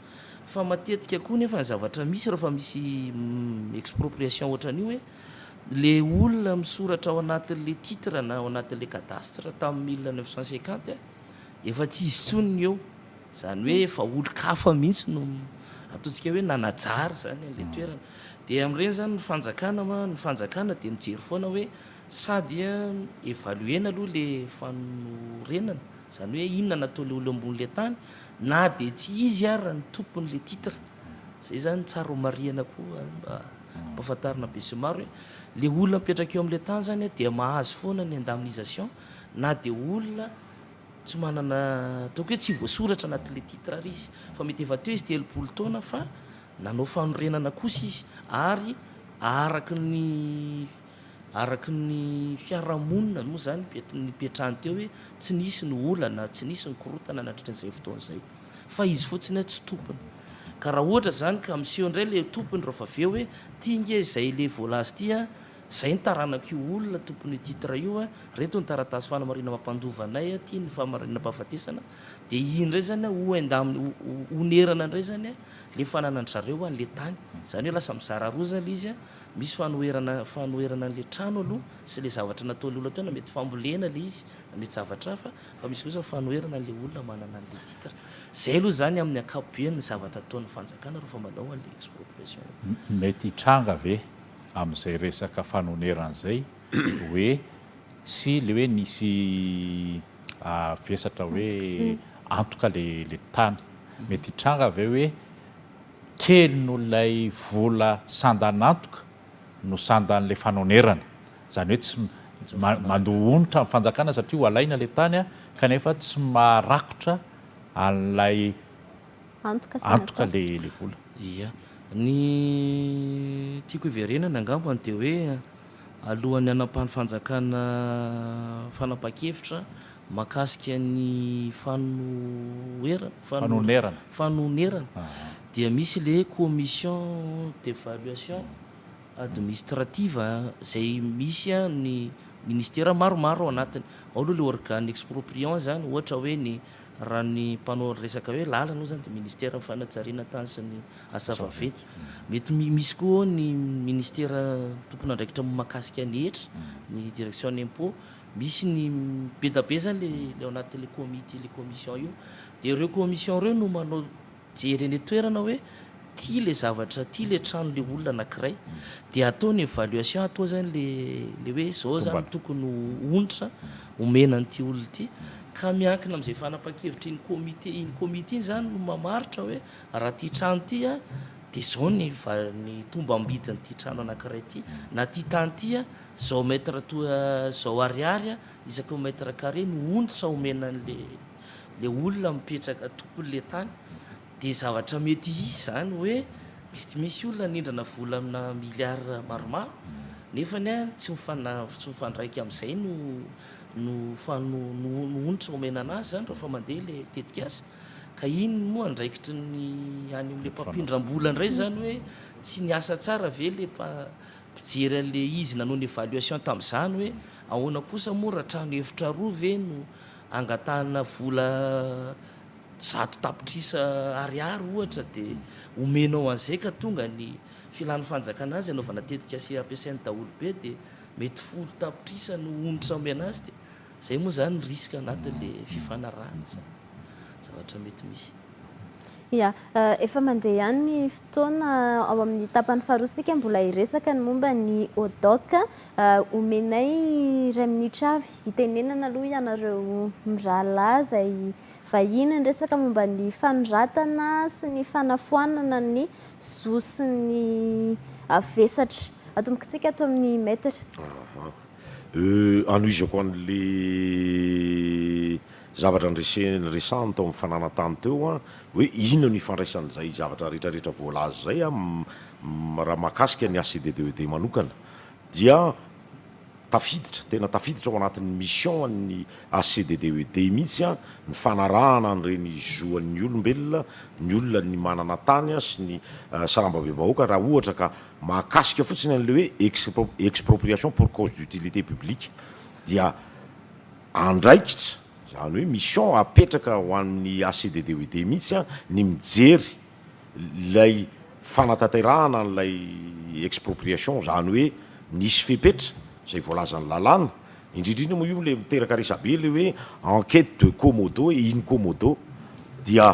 Fa matetika koa nefa ny zavatra misy rehefa misy expropriation ohatran'io hoe le olona misoratra ao anatin'le titre na ao anatin'le cadastre tamin'ny mille neuf cent cinquante efa tsy izy intsony ny eo. Izany hoe efa olon-kafa mihitsy no ataontsika hoe nanajary izany an'le toerana. Dia amin'ireny izany ny fanjakana ma- ny fanjakana dia mijery foana hoe sa dia evaluer-na aloha le fanorenana. Zany hoe inona nataon'le olo ambonin'le tany na de tsy izy ara ny tompon'le titre. Zay zany tsara ho marihana koa mba ampafantarina besimaro hoe le olona mipetraka eo am'le tany zany dia mahazo foana ny indemnisation na de olona tsy manana ataoko hoe tsy voasoratra anatin'le titre ary izy fa mety efa teo izy telopolo taona fa nanao fanorenana kosa izy ary araky ny Araka ny fiarahamonina moa izany nipetrahany teo hoe tsy nisy ny olana, tsy nisy ny korontana nandritra izay fotoana izay. Fa izy fotsiny hoe tsy tompony. Ka raha ohatra izany ka miseho indray ilay tompony raha vao avy eo hoe ity ange izay ilay voalaza ity an, izay ny taranak'io olona tompon'io titre io an, ireto ny taratasy fanamarihana mampandova anay an, ity ny fahamarinam-pahafatesana an, dia iny indray izany an ho endamina, ho onerana indray izany an ilay fananan-dry zareo an ilay tany. Izany hoe lasa mizara roa izany ilay izy an. Misy fanoherana fanoherana an'ilay trano aloha sy ilay zavatra nataon'ilay olona teo na mety fambolena ilay izy na mety zavatra hafa fa misy kosa ny fanoherana an'ilay olona manana an'ilay titre. Izay aloha izany amin'ny ankapobeny ny zavatra ataon'ny fanjakana rehefa manao an'ilay expropriation. Mety hitranga ve amin'izay resaka fanonerana izay hoe sy ilay hoe nisy vesatra hoe antoka ilay tany? Mety hitranga ve hoe Kely noho ilay vola sandan'antoka no sandan'ilay fanonerana. Izany hoe tsy mandoa onitra ny fanjakana satria ho alaina ilay tany kanefa tsy maharakotra an'ilay antoka ilay vola. Ia. Ny tiako hiverenana angambany dia hoe alohan'ny hanapahan'ny fanjakana fanapahan-kevitra Mahakasika ny fanonerana fanonerana dia misy ilay commission d'evaluation administrative izay misy ny ministera maromaro ao anatiny. Ao aloha ilay organe expropriant izany, ohatra hoe ny raha ny mpanao resaka hoe lalana hoy izany dia ministeran'ny fanajariana tany sy ny asa vaventy. Mety misy koa ao ny ministera tompon'andraikitra mahakasika ny hetra, ny direction impôt. Misy ny be da be zany le le ao anatin'le comite le commission io de ireo commission ireo no manao jery eny an-toerana hoe ty le zavatra ty le trano le olona anakiray de atao ny evaluation atao zany le le hoe zao zany tokony ho onitra omena an'ity olona ity ka miankina am'zay fanapan-kevitry iny comite iny comite iny zany no mamaritra hoe raha ty trano ty a de zao ny va- ny tombam-bidin'ity trano anakiray ty na ty tany ty a Zao mètre toa zao ariary isaky mètre carré no ondritra omena an'le le olona mipetraka tompon'le tany de zavatra mety hisy zany hoe mety misy olona hanindrana vola amina milliards maromaro nefany a tsy mifana tsy mifandraika am'zay no no fa no no ondritra omena anazy zany rehefa mandeha le tetikasa ka iny no andraikitry ny any am'le mpampindram-bola indray zany hoe tsy niasa tsara ve le mpa Mpijery an'le izy nanao ny evaluation tamin'izany hoe ahoana kosa moa raha trano efitra roa ve no angatahana vola zato tapitrisa ariary ohatra dia omenao an'izay ka tonga ny filan'ny fanjakana azy anaovana tetikase ampiasain'ny daholobe dia mety folo tapitrisa no onitra omena azy dia Zay moa zany ny risque anatin le fifanarahana zany zavatra mety misy. Ia. Efa mandeha ihany ny fotoana. Ao amin'ny tapany faharoa isika mbola hiresaka ny momba ny ODOC. Omenay iray minitra avy hitenenana aloha ianareo mirahalahy izay vahiny niresaka momba ny fanoratana sy ny fanafoanana ny zo sy ny vesatra. Atombokintsika ato amin'ny Maître. Euh anohizako an'le zavatra nreseny resahany tao amin'ny fananantany teo an, hoe inona no ifandraisan'izay zavatra rehetra rehetra voalaza izay an, m raha mahakasika ny ACDDED manokana dia tafiditra, tena tafiditra ao anatin'ny mission an'ny ACDDED mihitsy an, ny fanarahana an'ireny zo an'ny olombelona, ny olona ny manana tany sy ny sarambabem-bahoaka raha ohatra ka Mahakasika fotsiny an'ilay hoe expropriation pour cause d'utilité publique dia andraikitra, izany hoe mission apetraka ho an'ny ACDDUED mihitsy ny mijery ilay fanatanterahana an'ilay expropriation, izany hoe nisy fepetra izay voalazan'ny lalàna, indrindra indrindra moa io ilay miteraka resabe ilay hoe enquête de commodo et in commodo dia.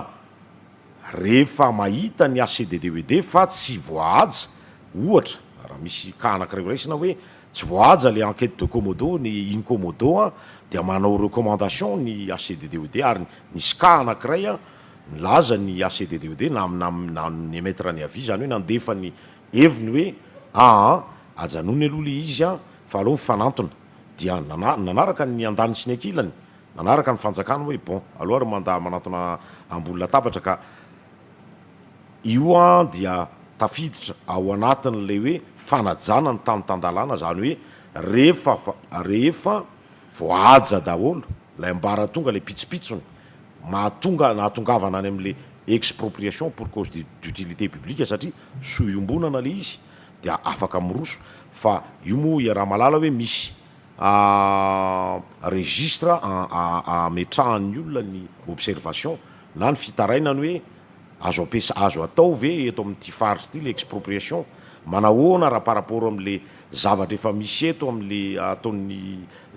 Rehefa mahita ny HCDDWD fa tsy voahaja, ohatra, raha misy cas anankiray horaisina hoe tsy voahaja ilay enquête de commodo, ny Incommodo an, dia manao recommandation ny HCDDWD ary nisy cas anankiray an, nilaza ny HCDDWD na na ni-emettre ny avis, izany hoe nandefa ny heviny hoe aa ajanony aloha ilay izy an, fa aleo mifanantona. Dia nanaraka ny andaniny sy ny ankilany Manaraka ny fanjakana hoe bon aloha ry manda manatona ambony latabatra ka io an dia tafiditra ao anatin'ilay hoe fanajana ny tany tan-dalàna izany hoe rehefa rehefa voahaja daholo ilay ambaratonga ilay pitsopitsony mahatonga nahatongavana any amin'ilay expropriation pour cause d'utilité publique satria soa iombonana ilay izy dia afaka miroso fa io moa iaraha-malala hoe misy Ahh registre ametrahan'ny olona ny observation na ny fitarainany hoe azo ampiasa azo atao ve eto amin'ity faritra ity le expropriation? manahoana raha par rapport amle zavatra efa misy eto amle ataon'ny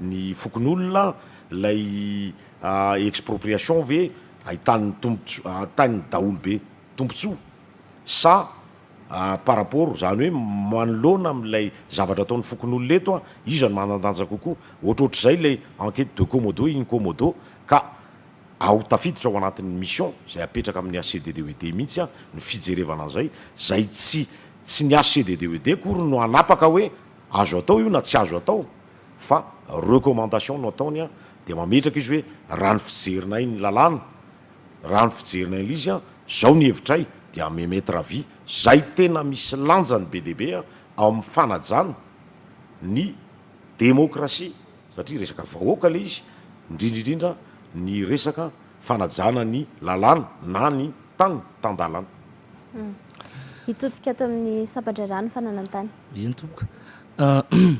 ny fokonolona lay ahh expropriation ve ahitan'ny tombotsoa ahitan'ny daholo be tombotsoa sa par rapport, izany hoe manoloana amin'ilay zavatra ataon'ny fokonolona eto, iza no manan-danja kokoa, ohatrohatr'izay ilay enquête de commodo in commodo, ka ao tafiditra ao anatin'ny mission izay apetraka amin'ny HCDDOED mihitsy ny fijerevana an'izay, izay tsy tsy ny HCDDOED akory no hanapaka hoe azo atao io na tsy azo atao fa recommandation no ataony dia mametraka izy hoe raha ny fijerinay ny lalàna Raha ny fijerinay an'lzy an, zao ny hevitray dia à mes maîtres à vie zay tena misy lanjany be dia be ao amin'ny fanajana ny demokrasia satria resaka vahoaka ilay izy, indrindra indrindra ny resaka fanajana ny lalàna na ny tany tan-dalàna. Hitodika ato amin'ny sampan-draharaha ny fananan-tany. Eny tompoko.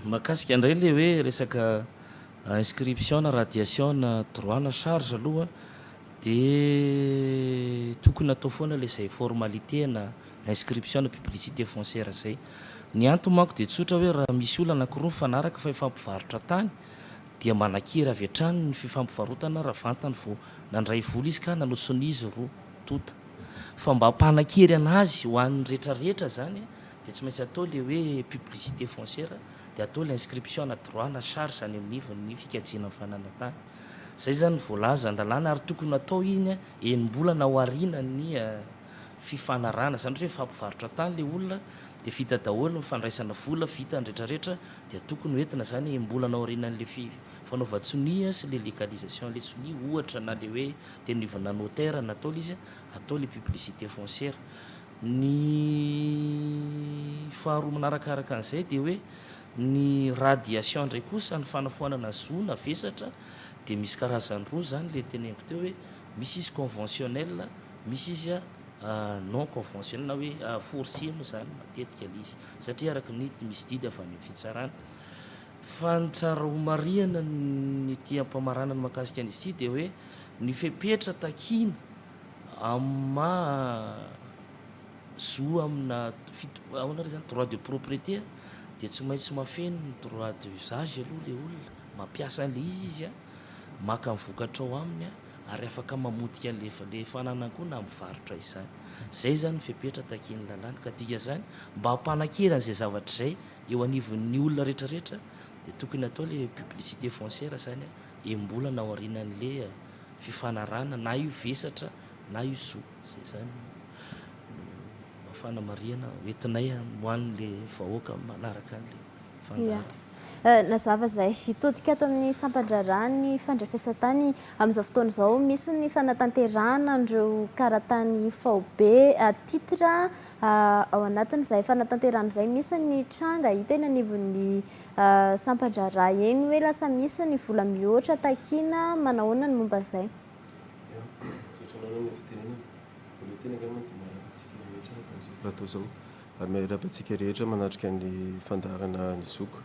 Mahakasika indray ilay hoe resaka. Inscription na radiation na droit na charge aloha dia tokony atao foana ilay izay formalité na inscription na publicité foncière izay. Ny antony manko dia tsotra hoe raha misy olona anankiroa mifanaraka fa hifampivarotra tany dia manakiry avy hatrany ny fifampivarotana raha vantany vao nandray vola izy ka nanosonia izy roa tonta. Fa mba hampanakiry anazy ho an'ny rehetra rehetra izany dia tsy maintsy atao ilay hoe publicité foncière. dia atao ilay inscription na droit na charge any amin'ny ivon'ny fikajiana ny fananantany. Izay izany ny voalaza an-dalàna ary tokony hatao iny enim-bolana aorianan'ny fifanarahana. Izany hoe rehefa hampivarotra tany ilay olona dia vita daholo ny fandraisana vola, vita ny rehetrarehetra dia tokony ho entina izany enim-bolana aorianan'ilay fanaovan-tsonia sy ilay légalisation an'ilay sonia ohatra na ilay hoe teny ivonà notaire na atao ilay izy, atao ilay publicité foncière. Ny faharoa manarakaraka an'izay dia hoe ny radiation indray kosa, ny fanafoanana zo na vesatra dia misy karazany roa izany ilay teneniko teo hoe misy izy conventionnel, misy izy non conventionnel na hoe forcé moa izany matetika ilay izy satria araka ny misy didy avy any amin'ny fitsarana. Fa ny tsara homarihina ny ety am-pamaranana mahakasika an'izy ity dia hoe ny fepetra takiana, Amin'ny maha zo amina fito, ahoana re zany, droit de propriété a, dia tsy maintsy mahafeno ny droit d'usage aloha ilay olona, mampiasa an'ilay izy izy a, maka ny vokatra ao aminy a, ary afaka mamotika an'ilay efa, ilay fananany koa na mivarotra izany. Izay izany ny fepetra takian'ny lalàna. Ka dikan'izany, mba hampanankerana izay zavatra izay eo anivon'ny olona rehetra rehetra dia tokony hatao ilay publicité foncière izany a, enim-bolana aorianan'ilay. fifanarahana na io vesatra na io zo zay zany mba fanamarihana hoentinay ho an'le vahoaka manaraka an'le fandaharana. Nazava izay todika ato amin'ny sampan-draharaha ny fandrefesan-tany amin'izao fotoana izao. Misy ny fanatanterahana an'ireo karatany faobe titre ao anatin'izay fanatanterahana izay. Misy ny tranga hita eny anivon'ny Sampan-draharaha eny hoe lasa misy ny vola mihoatra takiana, manahoana ny momba izay? Ya, misaotra anao amin'ny fitenenana. Voalohany teny angamba dia miarahaba antsika rehetra eto amin'izao plateau izao ary miarahaba antsika rehetra manatrika ny fandaharana ny zokiko.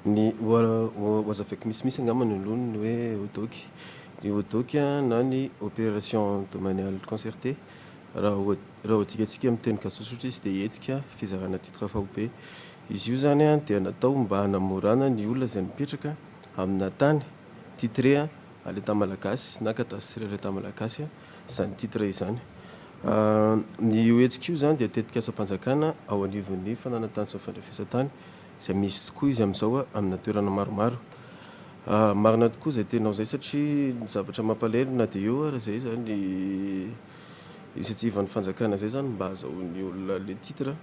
Ny ho hazavaiko misimisy angamba ny loha ny hoe hodoc. Ny hodoc na ny opération de manial concerté, raha ho adikantsika amin'ny teny gasosotra izy dia hetsika fizarana titre faobe. Izy io izany dia natao mba hanamorana ny olona izay mipetraka amina tany, titre à l'Etat malagasy na cadastre à l'Etat malagasy izany titre izany. Ny io hetsika io izany dia tetik'asam-panjakana ao anivon'ny fananan-tany sy ny fandrefesan-tany izay misy tokoa izy amin'izao amina toerana maromaro. Marina tokoa izay teninao izay satria ny zavatra mampalahelo na dia eo ary izay izany ny initiative-n'ny fanjakana izay izany mba hahazahoan'ny olona ilay titre.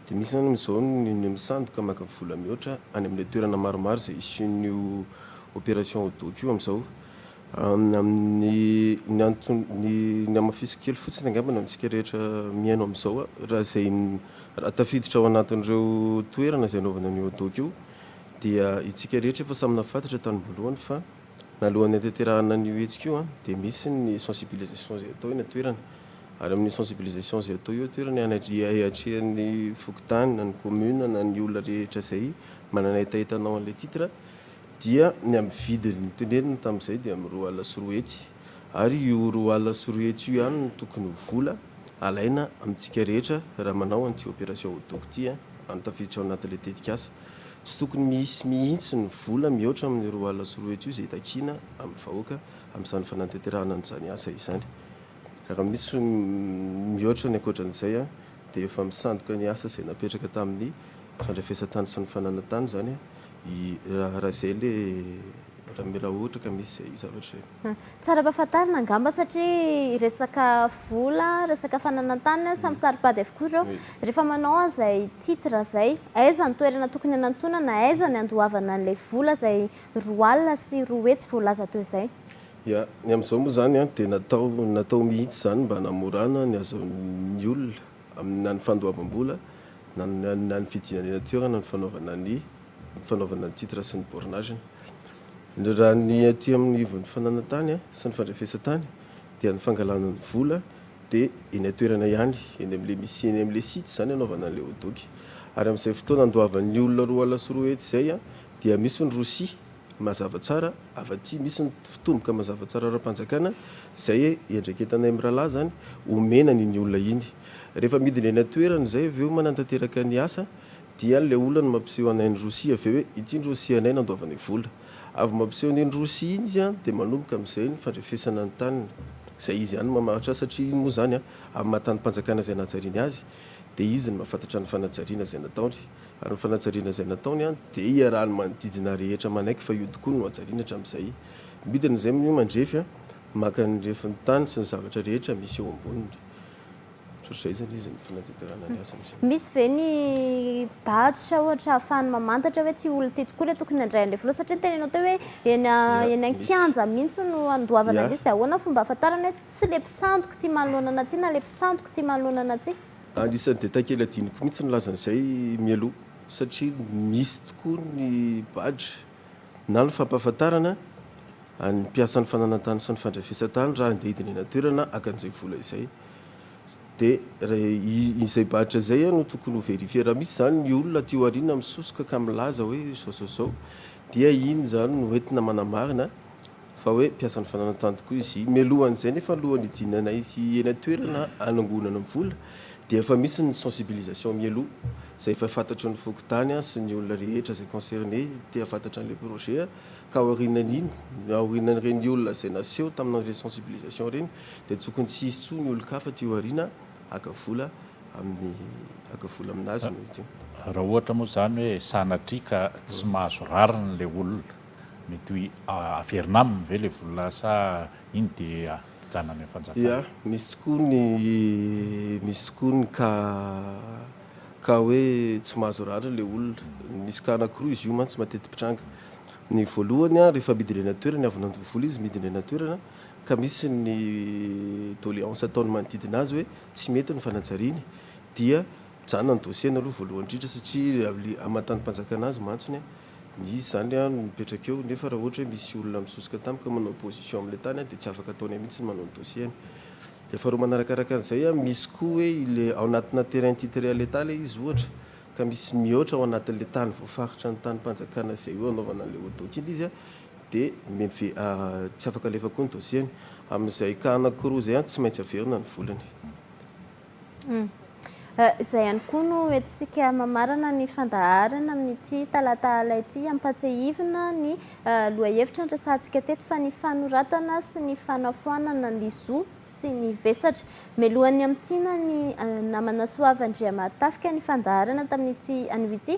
Dia misy izany amin'izao ny ny misandoka maka vola mihoatra any amin'ilay toerana maromaro izay hisian'io opération au doc io amin'izao. Amin'ny ny anton ny ny hamafisiko kely fotsiny angamba ny antsika rehetra mihaino amin'izao a, raha izay raha tafiditra ao anatin'ireo toerana izay anaovana an'io au doc io dia itsika rehetra efa samy nahafatatra tany am-boalohany fa. Nalohan'ny hahatanterahana an'io hetsika io dia misy ny sensibilisation izay atao eny an-toerana ary amin'io sensibilisation izay atao io an-toerana anatrehan'ny fokontany na ny commune na ny olona rehetra izay manana hetaheta hanao an'ilay titre dia ny amin'ny vidiny notenenina tamin'izay dia amin'ny roa alina sy roa hetsy ary io roa alina sy roa hetsy io ihany no tokony ho vola alaina amintsika rehetra raha manao an'ity opération Hot-dog ity an, tafiditra ao anatin'ilay tetikasa. Tsy tokony misy mihitsy ny vola mihoatra amin'ny roa alina sy roa hetsy io izay takiana amin'ny vahoaka amin'izany fanantenterahana an'izany asa izany. Raha misy mihoatra ny ankoatran'izay dia efa misandoka ny asa izay napetraka tamin'ny fandrefesan-tany sy ny fananan-tany izany i Raharazaile Ramiraha raha ohatra ka misy izay zavatra izay. Tsara ampahafantarina angamba satria resaka vola, resaka fananan-tany, samy saro-pady avokoa ireo. Rehefa manao an'izay titre izay, aiza ny toerana tokony hanantonana, aiza ny handoavana an'ilay vola izay roa alina sy roa hetsy voalaza teo izay? Ya, ny amin'izao moa izany dia natao natao mihitsy izany mba hanamorana ny azon'ny olona amin'ny na ny fandoavam-bola na ny na ny fidinanana toerana ny fanaovana ny fanaovana ny titre sy ny bornage-ny. Raha ny aty amin'ny ivon'ny fananantany sy ny fandrefesantany dia ny fangalana ny vola dia eny an-toerana ihany, eny amin'ilay misy eny amin'ilay site izany anaovana an'ilay hot-dogy. Ary amin'izay fotoana andoavan'ny olona roa ala sy roa hetsy izay dia misy ny rosia mazava tsara avy aty, misy ny fitomboka mazava tsara ara-panjakana izay iandraiketanay mirahalahy izany omena an'iny olona iny. Rehefa midina eny an-toerana izay avy eo manantanteraka ny asa. Dia ilay olona no mampiseho anay ny rosia avy eo hoe ity ny rosia anay nandoavany vola. Avy mampiseho an'iny rosia iny izy dia manomboka amin'izay ny fandrefesana ny taniny. Izay izy ihany no mamaritra azy satria iny moa izany amin'ny maha tanim-panjakana izay nanajariany azy dia izy no mahafantatra ny fanajariana izay nataony. Ary ny fanajariana izay nataony dia iarahan'ny manodidina rehetra manaiky fa io tokoa no hajariany hatramin'izay. Midina izay moa io mandrefy maka ny refin'ny tany sy ny zavatra rehetra misy eo amboniny. Ohatr'izay izany izy ny fanatanterahana ny asany. Misy ve ny badge ohatra ahafahany mamantatra hoe tsy olona ity tokoa ilay tokony handray an'ilay vola satria ny tenenao teo hoe eny eny an-kianja mihitsy no andoavana an'ilay izy dia ahoana ny fomba ahafantarana hoe tsy ilay mpisandoka ity manoloana an'ity na ilay mpisandoka ity manoloana an'ity? Anisan'ny detail kely hadinoko mihitsy ny nilaza an'izay mialoha satria misy tokoa ny badge na ny fampahafantarana an'ny mpiasan'ny fananantany sy ny fandrefesan-tany raha handeha hidina eny an-toerana haka an'izay vola izay. Dia izay badge izay no tokony ho verifier. Raha misy izany ny olona aty aoriana misosoka ka milaza hoe izao izao izao dia iny izany no entina manamarina fa hoe mpiasan'ny fananan-tany tokoa izy. Mialohan'izay nefa alohan'ny hijinanay eny an-toerana hanangonana vola dia efa misy ny sensibilisation mialoha izay efa fantatry ny fokontany sy ny olona rehetra izay concerné te hahafantatra an'ilay projet ka aorianan'iny, aorianan'ireny olona izay naseho tamin'ireny sensibilisation ireny, dia tokony tsy hisy tsony olon-kafa aty aoriana haka vola amin'ny haka vola aminazy ny olona io. Raha ohatra moa izany hoe sanatria ka tsy mahazo rariny ilay olona, mety hoe averina aminy ve ilay vola sa iny dia ajanona any amin'ny fanjakana? Ia, misy tokoa ny misy tokoa ny ka ka hoe tsy mahazo rariny ilay olona. Misy ka anankiroa izy io mantsy mateti-pitranga. Ny voalohany rehefa midina eny an-toerana, avy nandoa vola izy midina eny an-toerana ka misy ny doléance ataon'ny manodidina azy hoe tsy mety ny fanajariany dia mijanona ny dossier-ny aloha voalohany indrindra satria aman-tanim-panjakana azy mantsy ny izy izany no mipetraka eo nefa raha ohatra hoe misy olona misosoka tampoka manao opposition amin'ilay tany dia tsy afaka ataony mihitsy ny manao ny dossier-ny dia faharoa manarakaraka an'izay misy koa hoe ilay ao anatina terrain titré à l'Etat ilay izy ohatra ka misy mihoatra ao anatin'ilay tany voafaritra ny tanim-panjakana izay hoe hanaovana an'ilay ODOC iny izy dia meve tsy afaka alefa koa ny dossier-ny amin'izay cas anankiroa izay an tsy maintsy averina ny volany. Izay ihany koa no hoentintsika mamarana ny fandaharana amin'ity talata alina ity. Ampatsiahivina ny lohahevitra niresahantsika teto fa ny fanoratana sy ny fanafoanana ny zo sy ny vesatra. Melohan'ny hamintinan'ny namana Soava Andriamarotafika ny fandaharana tamin'ity anio ity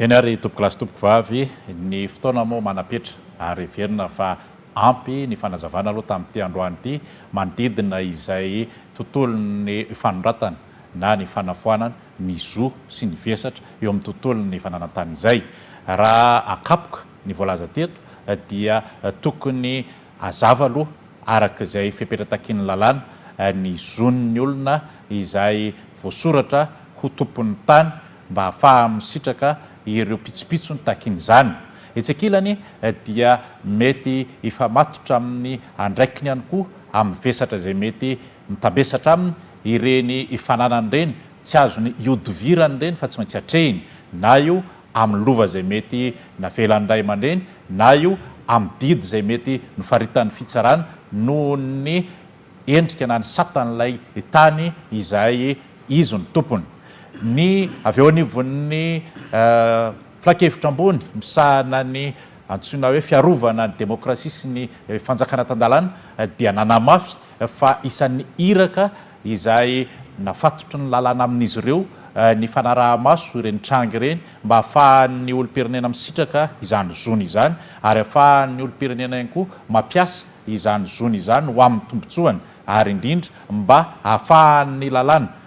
Eny ary tompoko lahy sy tompoko vavy, ny fotoana moa manam-petra ary heverina fa ampy ny fanazavana aloha tamin'ity androany ity manodidina izay tontolon'ny fanondratana na ny fanafoanana ny zo sy ny vesatra eo amin'ny tontolon'ny fananantany izay. Raha akapoka Ny voalaza teto dia tokony hazava aloha araka izay fepetra takian'ny lalàna ny zon'ny olona izay voasoratra ho tompon'ny tany mba hahafaha misitraka ireo pitsopitsony takian'izany. Etsy ankilany dia mety hifamatotra amin'ny andraikiny ihany koa amin'ny vesatra izay mety mitambesatra aminy ireny fananany ireny, tsy azony ihodivirany ireny fa tsy maintsy atrehiny na io amin'ny lova izay mety navelan'ny ray aman-dreny na io amin'ny didy izay mety nofaritan'ny fitsarana noho ny endrika na ny satan'ilay tany izay izy no tompony. Ny avy eo anivon'ny filankevitra ambony misahana ny antsoina hoe fiarovana ny demokrasia sy ny fanjakana tan-dalàna dia nanamafy fa isan'ny iraka izay nafatotry ny lalàna amin'izy ireo ny fanaraha-maso ireny tranga ireny mba hahafahan'ny olom-pirenena misitraka izany zony izany ary hahafahan'ny olom-pirenena ihany koa mampiasa izany zony izany ho amin'ny tombontsoany ary indrindra mba hahafahan'ny lalàna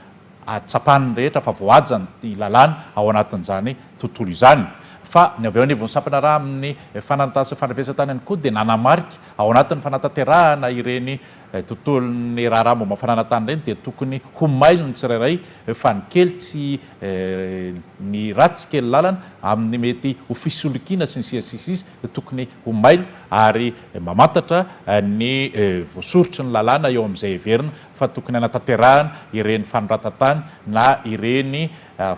tsapan'ny rehetra fa voahaja ny lalàna ao anatin'izany tontolo izany. Fa ny avy eo anivon'ny sampana raha amin'ny fananantany sy fandrafesantany ihany koa dia nanamarika ao anatin'ny fanatanterahana ireny Ilay tontolon'ny raharaha momba ny fananantany ireny dia tokony ho mailo ny tsirairay fa ny kely tsy ny ratsy kely lalana amin'ny mety ho fisolokiana sy ny sisa sy ny sisa tokony ho mailo ary mamantatra ny voasoritry ny lalàna eo amin'izay heverina fa tokony hanatanterahana ireny fanoratantany na ireny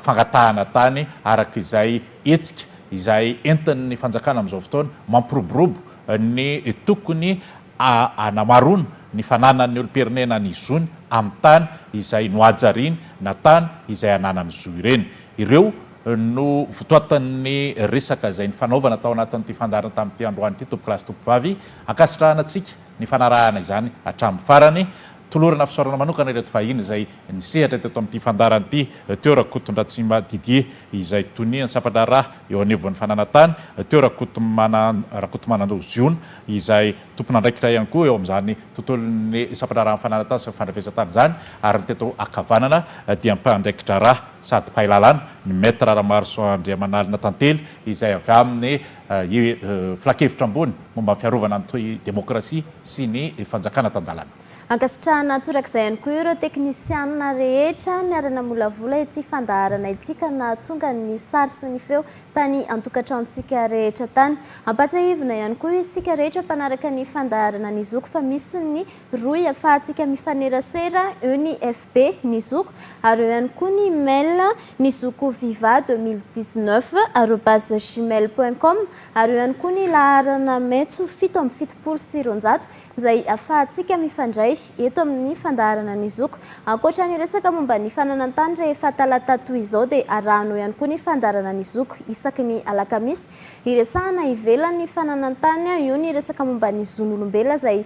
fangatahana tany araka izay hetsika izay entin'ny fanjakana amin'izao fotoana mampiroborobo ny tokony Hanamarona ny fananan'ny olom-pirenena ny zony amin'ny tany izay nohajariany na tany izay ananany zo ireny. Ireo no votoatin'ny resaka izay nifanaovana tao anatin'ity fandaharana tamin'ity androany ity, Tompo-kilasy Tompo-vavy. Ankasitrahana antsika ny fanarahana izany hatramin'ny farany. Tolorana fisaorana manokana ireto vahiny izay nisehatra teto amin'ity fandaharana ity teo Rakotondratsimba Didier izay tonian'ny sampan-draharaha eo anivon'ny fananantany, teo Rakotomanando Rakotomanando Ziona izay tompon'andraikitra ihany koa eo amin'izany tontolon'ny sampan-draharahan'ny fananantany sy ny fandrefesan-tany izany ary ny teto ankavanana dia mpandraikidraharaha sady mpahay lalàna ny Maître Ramaroson Andriamanalina Tantely izay avy amin'ny Filankevitra ambony momba ny fiarovana ny toy demokrasia sy ny fanjakana tan-dalana. Ankasitrahana torak'izay ihany koa ireo teknisianina rehetra niara-namolavola ity fandaharana ity ka nahatonga ny sary sy ny feo tany an-tokantranontsika rehetra tany. Ampahatsiahivina ihany koa isika rehetra mpanaraka ny fandaharana ny zoky fa misy ny Rohy afahantsika mifanerasera eo ny FB ny zoky ary eo ihany koa ny mail ny zoky viva 2019 arobase gmail point com ary eo ihany koa ny laharana metso fito amby fitopolo sy roanjato izay afahantsika mifandray eto amin'ny fandaharana ny zoky. Ankoatra ny resaka momba ny fananantany rehefa talata toy izao dia arahanao ihany koa ny fandaharana ny zoky isaky ny alakamisy hiresahana ivelan'ny fananantany eo ny resaka momba ny zon'olombela izay